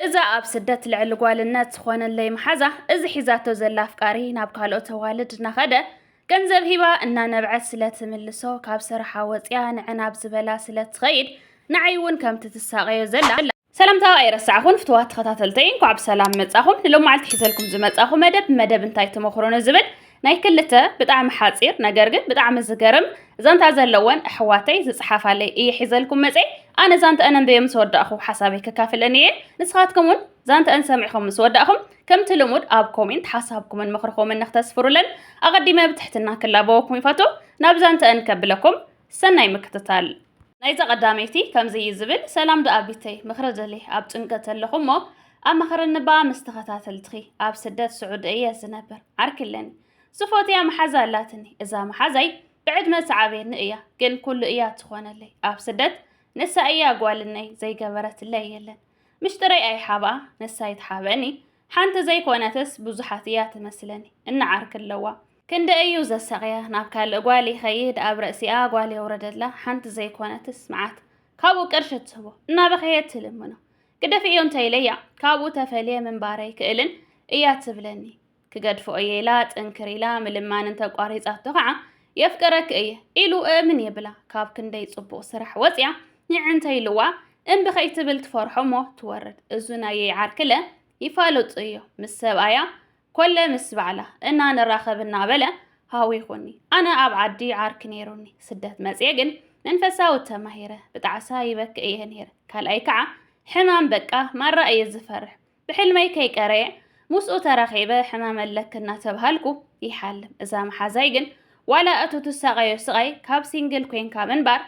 እዛ ኣብ ስደት ልዕሊ ጓልነት ዝኾነለይ መሓዛ እዚ ሒዛቶ ዘላ ኣፍቃሪ ናብ ካልኦት ኣዋልድ እናኸደ ገንዘብ ሂባ እናነብዐት ስለ ትምልሶ ካብ ስራሓ ወፅያ ንዐን ኣብ ዝበላ ስለ ትኸይድ ንዓይ እውን ከምቲ ትሳቐዮ ዘላ ሰላምታ ኣይረሳዕኹን ፍትዋት ተኸታተልተይ እንኳዕ ብሰላም መጻኹም ንሎማዓልቲ ሒዘልኩም ዝመጻኹ መደብ መደብ እንታይ ተመኽሮ ንዝብል ናይ ክልተ ብጣዕሚ ሓጺር ነገር ግን ብጣዕሚ ዝገርም ዛንታ ዘለወን ኣሕዋተይ ዝጽሓፋለይ እየ ሒዘልኩም መጼ ኣነ ዛንተአን ኣንበየ ምስ ወዳእኹ ሓሳበይ ከካፍለን እየ ንስኻትኩም እውን ዛንተአን ሰሚዕኹም ምስ ወዳእኹም ከምቲ ልሙድ ኣብ ኮሜንት ሓሳብኩምን ምኽርኹምን ንክተስፍሩለን ኣቐዲመ ብትሕትና ክላበወኩም ይፈቱ ናብ ዛንተአን ከብለኩም ሰናይ ምክትታል። ናይዛ ቀዳመይቲ ከምዚ እዩ ዝብል፣ ሰላም ዶ ኣቢተይ ምክሪ ደልየ ኣብ ጭንቀት ኣለኩ እሞ ኣማክርኒ ባኣ ምስ ተከታተልትኪ ኣብ ስደት ስዑዲ እየ ዝነብር ዓርኪ ኣለኒ ዝፎትያ መሓዛ ኣላትኒ እዛ መሓዛይ ብዕድመ ትዓብየኒ እያ ግን ኩሉ እያ ትኮነለይ ኣብ ስደት ንሳ እያ ጓልነይ ዘይገበረትለይ የለን ምሽጥረይ ኣይሓብኣ ንሳ ይትሓበኒ ሓንቲ ዘይኮነትስ ብዙሓት እያ ትመስለኒ እንዓርክ ኣለዋ ክንደ እዩ ዘሳቕያ ናብ ካልእ ጓል ይኸይድ ኣብ ረእሲኣ ጓል የውረደላ ሓንቲ ዘይኮነትስ መዓት ካብኡ ቅርሺ ትህቦ እናበኸየት ትልምኖ ግደፊ እዮ እንተይለያ ካብኡ ተፈልየ ምንባር ኣይክእልን እያ ትብለኒ ክገድፎ እየ ኢላ ጥንክር ኢላ ምልማን እንተቋሪፃቶ ከዓ የፍቅረክ እየ ኢሉ እእምን የብላ ካብ ክንደይ ፅቡቕ ስራሕ ወፅያ ኝዕ እንተ ኢልዋ እምቢ ከይትብል ትፈርሖ እሞ ትወርድ። እዙ ናየይ ዓርክለ ይፋለጡ እዮ ምስ ሰብኣያ ኮለ ምስ ባዕላ እና ንራኸብ እናበለ ሃዊኹኒ። ኣነ ኣብ ዓዲ ዓርኪ ነይሩኒ ስደት መፅየ ግን መንፈሳዊ ተማሂረ ብጣዕሳ ይበክእ እየ ነይረ ካልኣይ ከዓ ሕማም በቃ ማራ እየ ዝፈርሕ ብሕልመይ ከይቀረየ ምስኡ ተራኺበ ሕማም ኣለኪ እናተብሃልኩ ይሓልም። እዛ መሓዛይ ግን ዋላ እቱ ትሳቐዮ ስቓይ ካብ ሲንግል ኮይንካ ምንባር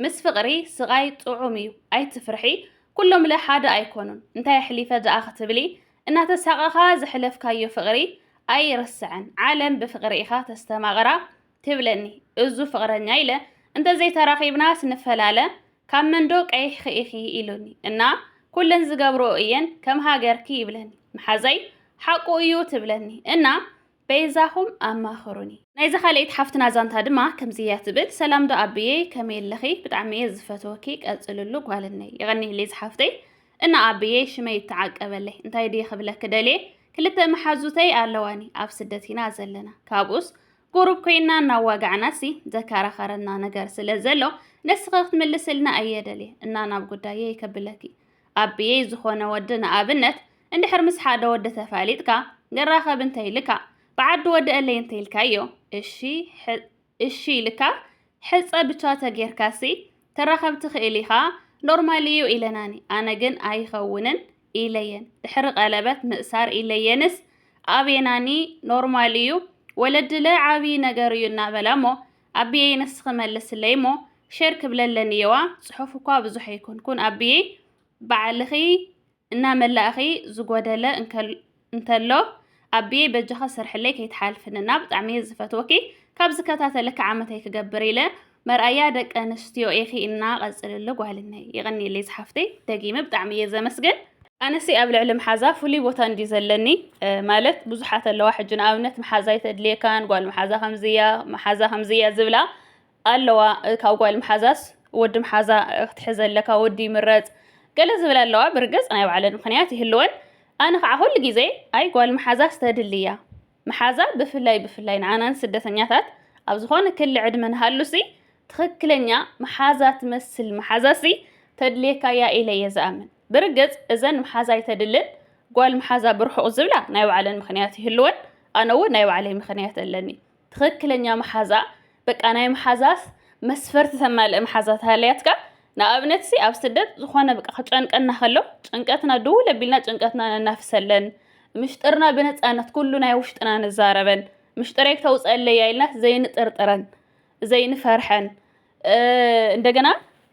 ምስ ፍቕሪ ስቓይ ጥዑም እዩ ኣይትፍርሒ ኩሎምለ ሓደ ኣይኮኑን እንታይ ኣሕሊፈ ደኣ ክትብሊ እናተሳቐኻ ዘሕለፍካዮ ፍቕሪ ኣይርሳዕን ዓለም ብፍቕሪ ኢኻ ተስተማቕራ ትብለኒ እዙ ፍቕረኛ ኢለ እንተዘይተራኺብናስ ንፈላለ ካብ መንዶ ቀይሕኺ ኢኺ ኢሉኒ እና ኩለን ዝገብርኦ እየን ከም ሃገርኪ ይብለኒ መሓዘይ ሓቁ እዩ ትብለኒ እና በይዛኹም ኣማኽሩኒ። ናይዛ ካልኤይቲ ሓፍትና ዛንታ ድማ ከምዚ እያ ትብል ሰላም ዶ ኣቢየ ከመይ ኣለኺ ብጣዕሚ እየ ዝፈትወኪ ቀፅልሉ ጓልነይ የቐኒየለይ ዝሓፍተይ እና ኣቢየ ሽመይ ይተዓቀበለይ እንታይ ድየ ክብለኪ ደልየ ክልተ መሓዙተይ ኣለዋኒ ኣብ ስደት ኢና ዘለና ካብኡስ ቁሩብ ኮይና እናዋጋዕናሲ ዘከራኸረና ነገር ስለ ዘሎ ንስኺ ክትምልስልና እየ ደልየ እና ናብ ጉዳየይ ከብለኪ ኣቢየይ ዝኾነ ወዲ ንኣብነት እንድሕር ምስ ሓደ ወዲ ተፋሊጥካ ንራኸብ እንተይልካ ብዓዲ ወደአለይ እንተይልካዮ እሺ እሺ ኢልካ ሕፀ ብቻ ተጌርካሲ ትራኸብ ትኽእል ኢኻ ኖርማል እዩ ኢለናኒ ኣነ ግን ኣይኸውንን ኢለየን ድሕሪ ቀለበት ምእሳር ኢለየንስ ኣቤናኒ ኖርማል ኢዩ ወለድለ ዓብዪ ነገር ኢዩ እናበላ እሞ ኣቢየይ ንስኺ መልስለይ እሞ ሼር ክብለለን ኢየዋ ፅሑፍ እኳ ብዙሕ ኣይኮንኩን ኣቢየይ ባዕልኺ እናመላእኺ ዝጎደለ እንከሎ እንተሎ ኣቢየይ በጃኻ ስርሕለይ ከይትሓልፍኒ እና ብጣዕሚ እየ ዝፈትወኪ ካብ ዝከታተለኪ ዓመተይ ክገብር ኢለ መርኣያ ደቂ ኣንስትዮ ኢኺ እና ቀፅልሉ ጓልነይ ይቕኒለይ ዝሓፍተይ ደጊመ ብጣዕሚ እየ ዘመስግን ኣነሲ ኣብ ልዕሊ መሓዛ ፍሉይ ቦታ እንዲ ዘለኒ ማለት ብዙሓት ኣለዋ ሕጂ ንኣብነት መሓዛ ኣይተድልየካን ጓል መሓዛ ከምዝያ መሓዛ ከምዝያ ዝብላ ኣለዋ ካብ ጓል ምሓዛስ ወዲ ምሓዛ ክትሕዘ ኣለካ ወዲ ይምረጽ ገለ ዝብል ኣለዋ ብርግጽ ናይ ባዕለን ምክንያት ይህልወን ኣነ ከዓ ኩሉ ግዜ ኣይ ጓል ምሓዛስ ተድሊ እያ ምሓዛ ብፍላይ ብፍላይ ንዓና ንስደተኛታት ኣብ ዝኾነ ክሊ ዕድመ ንሃሉሲ ትኽክለኛ ምሓዛ ትመስል ምሓዛሲ ተድልየካ እያ ኢለ እየ ዝኣምን ብርግጽ እዘን ምሓዛ ኣይተድልን ጓል ምሓዛ ብርሑቕ ዝብላ ናይ ባዕለን ምክንያት ይህልወን ኣነ እውን ናይ ባዕለይ ምክንያት ኣለኒ ትኽክለኛ መሓዛ በቃ ናይ መሓዛስ መስፈርቲ ተማልእ መሓዛ ተሃልያትካ ንኣብነት ሲ ኣብ ስደት ዝኾነ በቃ ክጨንቀና ከሎ ጭንቀትና ድውል ኣቢልና ጭንቀትና ነናፍሰለን ምሽጥርና ብነፃነት ኩሉ ናይ ውሽጥና ንዛረበን ምሽጥረይ ክተውፀለይ ኢልናስ ዘይንጥርጥረን ዘይንፈርሐን እንደገና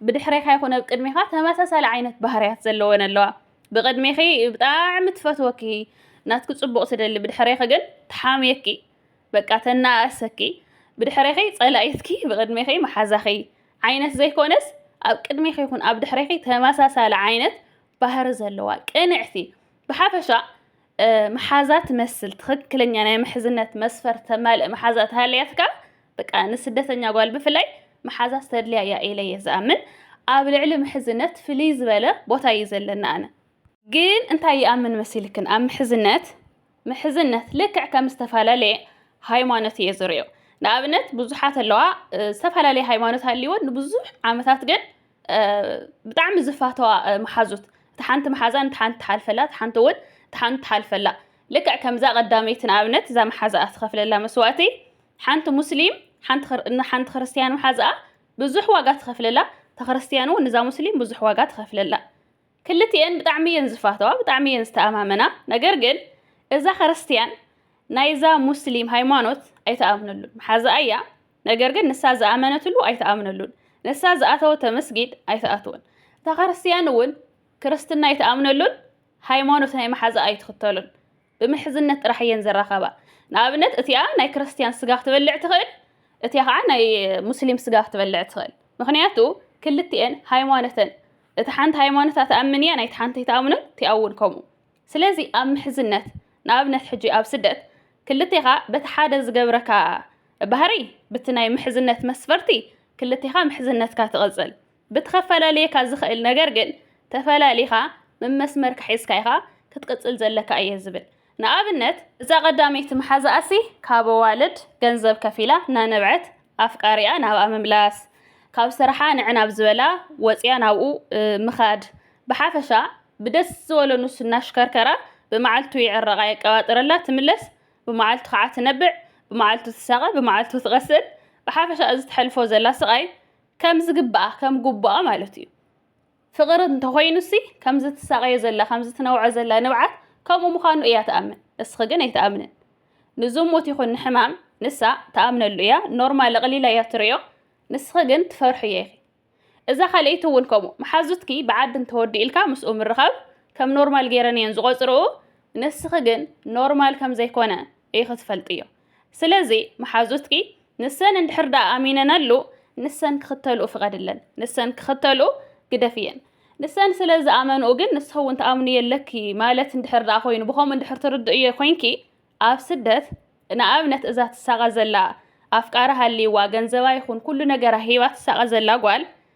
ብድሕሬኻ ይኹነ ኣብ ቅድሜኻ ተመሳሳሊ ዓይነት ባህርያት ዘለወን ኣለዋ ብቕድሜኺ ብጣዕሚ ትፈትወኪ ናትኪ ፅቡቕ ትደሊ ብድሕሬኺ ግን ትሓምየኪ በቃ ተናኣእሰኪ ብድሕሬኺ ጸላኢትኪ ብቕድሜኺ መሓዛኺ ዓይነት ዘይኮነስ ኣብ ቅድሜኺ ይኹን ኣብ ድሕሬኺ ተመሳሳሊ ዓይነት ባህሪ ዘለዋ ቅንዕቲ ብሓፈሻ መሓዛ ትመስል ትኽክለኛ ናይ ምሕዝነት መስፈር ተማልእ መሓዛ ተሃልያትካ በቃ ንስደተኛ ጓል ብፍላይ መሓዛ ዝተድልያ እያ ኢለ እየ ዝኣምን ኣብ ልዕሊ ምሕዝነት ፍልይ ዝበለ ቦታ እዩ ዘለና ኣነ ግን እንታይ ይኣምን መሲልክን ኣብ ምሕዝነት ምሕዝነት ልክዕ ከም ዝተፈላለየ ሃይማኖት እየ ዝሪኦ ንኣብነት ብዙሓት ኣለዋ ዝተፈላለየ ሃይማኖት ሃልይወን ንብዙሕ ዓመታት ግን ብጣዕሚ ዝፋተዋ መሓዙት እቲ ሓንቲ መሓዛ ንቲ ሓንቲ ትሓልፈላ እቲ ሓንቲ እውን እቲ ሓንቲ ትሓልፈላ ልክዕ ከምዛ ቀዳመይቲ ንኣብነት እዛ መሓዛኣ ትኸፍለላ መስዋእቲ ሓንቲ ሙስሊም ሓንቲ ክርስትያን መሓዛኣ ብዙሕ ዋጋ ትኸፍለላ ተክርስትያን እውን እዛ ሙስሊም ብዙሕ ዋጋ ትኸፍለላ ክልቲኤን ብጣዕሚ እየን ዝፋተዋ ብጣዕሚ እየን ዝተኣማመና ነገር ግን እዛ ክርስትያን ናይዛ ሙስሊም ሃይማኖት ኣይተኣምነሉን መሓዛኣ እያ ነገር ግን ንሳ ዝኣመነትሉ ኣይተኣምነሉን ንሳ ዝኣተወቶ መስጊድ ኣይተኣትወን እታ ክርስትያን እውን ክርስትና ኣይተኣምነሉን ሃይማኖት ናይ መሓዛኣ ኣይትኽተሉን ብምሕዝነት ጥራሕ እየን ዝራኸባ። ንኣብነት እቲኣ ናይ ክርስትያን ስጋ ክትበልዕ ትኽእል፣ እቲኣ ከዓ ናይ ሙስሊም ስጋ ክትበልዕ ትኽእል። ምክንያቱ ክልቲኤን ሃይማኖተን እቲ ሓንቲ ሃይማኖታ ትኣምን እያ፣ ናይቲ ሓንቲ ኣይትኣምኑን፣ እቲኣ እውን ከምኡ። ስለዚ ኣብ ምሕዝነት ንኣብነት ሕጂ ኣብ ስደት ክልቴኻ በቲ ሓደ ዝገብረካ ባህሪ ብቲ ናይ ምሕዝነት መስፈርቲ ክልቴኻ ምሕዝነትካ ትቕፅል። ብቲ ከፈላልየካ ዝኽእል ነገር ግን ተፈላሊኻ መመስመርካ ሒዝካ ኢኻ ክትቅጽል ዘለካ እየ ዝብል። ንኣብነት፣ እዛ ቀዳመይቲ መሓዛኣሲ ካብ ኣዋልድ ገንዘብ ከፊላ እናነብዐት ኣፍቃሪኣ ናብኣ ምምላስ፣ ካብ ስራሓ ንዕ ናብ ዝበላ ወጽያ ናብኡ ምኻድ፣ ብሓፈሻ ብደስ ዝበሎ ንሱ እናሽከርከራ ብመዓልቱ ይዕረቓ የቀባጥረላ ትምለስ፣ ብመዓልቱ ከዓ ትነብዕ፣ ብመዓልቱ ትሳቐ፣ ብመዓልቱ ትቐስን፣ ብሓፈሻ እዚ ተሕልፎ ዘላ ስቓይ ከም ዝግባኣ ከም ጉቡኣ ማለት እዩ ፍቕሪ እንተኾይኑሲ ከምዚ ትሳቐዮ ዘላ ከምዚ ትነውዖ ዘላ ንብዓት ከምኡ ምዃኑ እያ ትኣምን እስኺ ግን ኣይትኣምንን ንዝሙት ይኹን ንሕማም ንሳ ትኣምነሉ እያ ኖርማል ኣቕሊላ እያ ትርእዮ ንስኺ ግን ትፈርሑ እየ ኢኺ እዛ ካልኣይቲ እውን ከምኡ መሓዙትኪ ብዓዲ እንተወዲእልካ ምስኡ ምርኻብ ከም ኖርማል ገይረን እየን ዝቖፅርኡ ንስኺ ግን ኖርማል ከም ዘይኮነ ኢኺ ትፈልጥዮ ስለዚ መሓዙትኪ ንሰን እንድሕር ደኣ ኣሚነናሉ ንሰን ክኽተልኡ ፍቐድለን። ንሰን ክኽተልኡ ግደፍየን። ንሰን ስለ ዝኣመንኡ ግን ንስኺ እውን ትኣምንዮ ኣለኪ ማለት እንድሕር ደኣ ኮይኑ ብኸምኡ እንድሕር ትርድእዮ ኮይንኪ ኣብ ስደት ንኣብነት እዛ ትሳቐ ዘላ ኣፍቃሪ ሃልይዋ ገንዘባ ይኹን ኩሉ ነገራ ሂባ ትሳቐ ዘላ ጓል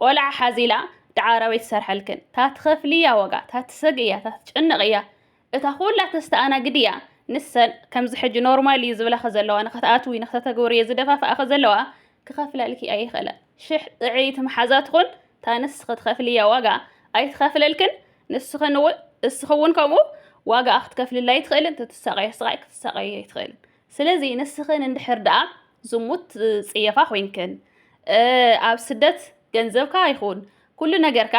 ቆልዓ ሓዚላ ደዓ ኣራዊት ትሰርሐልክን እታ ትኸፍልያ ዋጋ እታ ትሰግእ እያ እታ ትጭነቕ እያ እታ ኩላ ተስተኣናግድ እያ ንሰን ከምዚ ሕጂ ኖርማል እዩ ዝብላኺ ዘለዋ ንኸትኣትዊ ንኸተተግብርዮ ዝደፋፍኣኺ ዘለዋ ክኸፍላልኪ ኣይኽእላ ሽሕ ጥዕይቲ መሓዛ ትኹን እታ ንስኺ ትኸፍልያ ዋጋ ኣይትኸፍለልክን ንስኽን እውን እስኺ እውን ከምኡ ዋጋኣ ክትከፍልላ ኣይትኽእልን ትትሳቐዮ ስቓይ ክትሳቐዮ ኣይትኽእልን ስለዚ ንስኽን እንድሕር ደኣ ዝሙት ዝጽየፋ ኮይንክን ኣብ ስደት ገንዘብካ ይኹን ኩሉ ነገርካ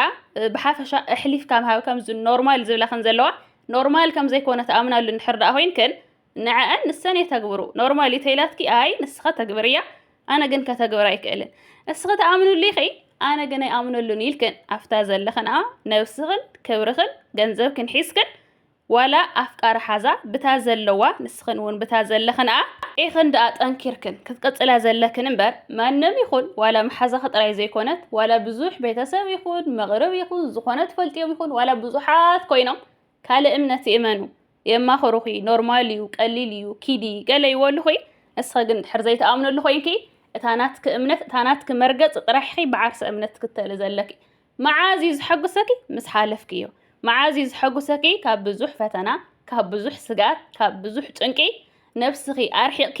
ብሓፈሻ ኣሕሊፍካ ምሃብ ከምዚ ኖርማል ዝብላ ከም ዘለዋ ኖርማል ከም ዘይኮነ ተኣምናሉ እንድሕር ደኣ ኮይንክን ንዐአን ንሰን የተግብሩ ኖርማል ተይላትኪ ኣይ ንስኻ ተግብርያ ኣነ ግን ከተግብር ኣይክእልን እስኺ ተኣምኑሉ ኢኺ ኣነ ግን ኣይኣምነሉን ኢልክን ኣብታ ዘለኽን ነብስኽን ክብርኽን ገንዘብክን ሒዝክን ዋላ ኣፍቃሪ ሓዛ ብታ ዘለዋ ንስኽን ውን ብታ ዘለኽንኣ ኢኽን ድኣ ጠንኪርክን ክትቅጽላ ዘለክን እምበር ማንም ይኹን ዋላ ምሓዛኺ ጥራይ ዘይኮነት ዋላ ብዙሕ ቤተሰብ ይኹን መቕርብ ይኹን ዝኾነ ትፈልጥዮም ይኹን ዋላ ብዙሓት ኮይኖም ካልእ እምነት ይእመኑ የማኽሩኺ ኖርማል እዩ ቀሊል እዩ ኪዲ ገለ ይወሉኺ ንስኺ ግን ድሕር ዘይትኣምነሉ ኮይንኪ እታ ናትኪ እምነት እታ ናትኪ መርገጽ ጥራሕኺ ብዓርሰ እምነት ትክተሊ ዘለኪ መዓዝ እዩ ዝሐጉሰኪ ምስ ሓለፍኪ እዩ መዓዝ እዩ ዝሐጉሰኪ ካብ ብዙሕ ፈተና ካብ ብዙሕ ስግኣት ካብ ብዙሕ ጭንቂ ነብስኪ ኣርሒቅኪ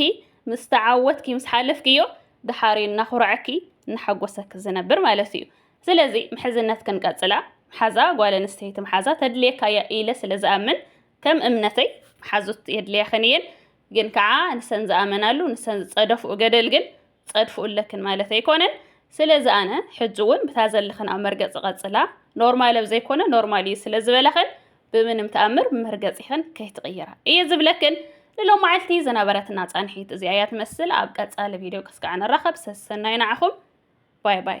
ምስ ተዓወትኪ ምስ ሓለፍኪ እዮ ደሓር እዩ እናኹረዐኪ እናሐጎሰኪ ዝነብር ማለት እዩ ስለዚ ምሕዝነት ክንቀጽላ ሓዛ ጓል ኣንስተይቲ መሓዛ ተድልየካ እያ ኢለ ስለ ዝኣምን ከም እምነተይ መሓዙት የድልያኽን እየን ግን ከዓ ንሰን ዝኣመናሉ ንሰን ዝጸደፍኡ ገደል ግን ጸድፉ ኣለክን ማለት ኣይኮነን ስለዚ ኣነ ሕጂ እውን ብታ ዘለኽን ኣብ መርገጺ ቀጽላ ኖርማል ኣብ ዘይኮነ ኖርማል እዩ ስለ ዝበለኽን ብምንም ተኣምር መርገጺኽን ከይትቕይራ እየ ዝብለክን ንሎም መዓልቲ ዝነበረትና ጻንሒት እዚኣ እያ ትመስል ኣብ ቀጻሊ ቪድዮ ክስከዕ ንራኸብ ሰሰናይ ንዓኹም ባይ ባይ